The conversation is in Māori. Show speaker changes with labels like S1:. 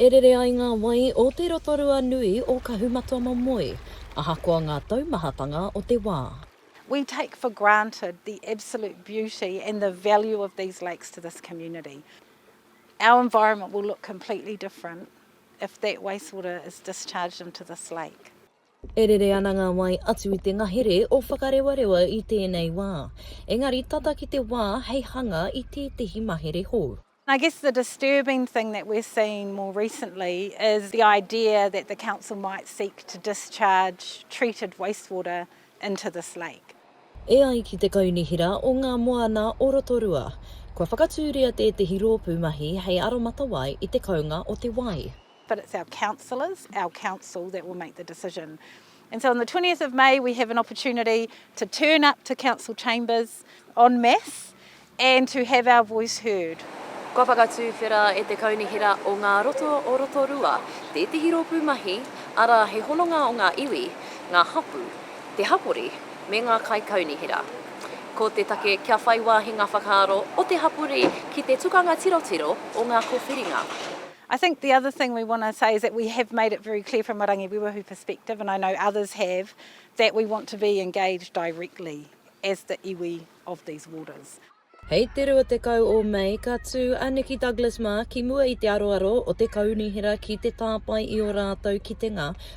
S1: E rere ai ngā wai o te Rotorua nui o Kahumatamomoe, ahakoa ngā taumahatanga o te wā. We take for
S2: granted the absolute beauty and the value of these lakes to this community. Our environment will look completely different if that wastewater is discharged into this lake. E rere ana
S1: ngā wai atu i te ngahere o Whakarewarewa i tēnei wā, engari tata ki te wā hei hanga i tētehi mahere hou. I guess the
S2: disturbing thing that we're seeing more recently is the idea that the council might seek to discharge treated wastewater into this lake. E ai ki te
S1: Kaunihera o ngā Moana o Rotorua, kua whakatūria tētehi rōpū mahi hei aromatawai i te kounga o te wai. but it's our
S2: councillors, our council that will make the decision. And so on the 20th of May we have an opportunity to turn up to council chambers en masse and to have our voice heard. Kua whakatūwhera
S1: e te Kaunihera o Ngā Roto o Rotorua tētehi rōpū mahi, arā he hononga o ngā iwi, ngā hapū, te hapori me ngā kaikaunihera. Ko te take kia whai wāhi ngā whakaaro o te hapori ki te tukanga tirotiro o ngā kōwhiringa. I think the
S2: other thing we want to say is that we have made it very clear from a Rangiwiwahu perspective, and I know others have, that we want to be engaged directly as the iwi of these waters. Hei te
S1: 20 o Mei ka tū a Nikki Douglas mā ki mua i te aroaro o te kaunihera ki te tāpae i ō rātou kitenga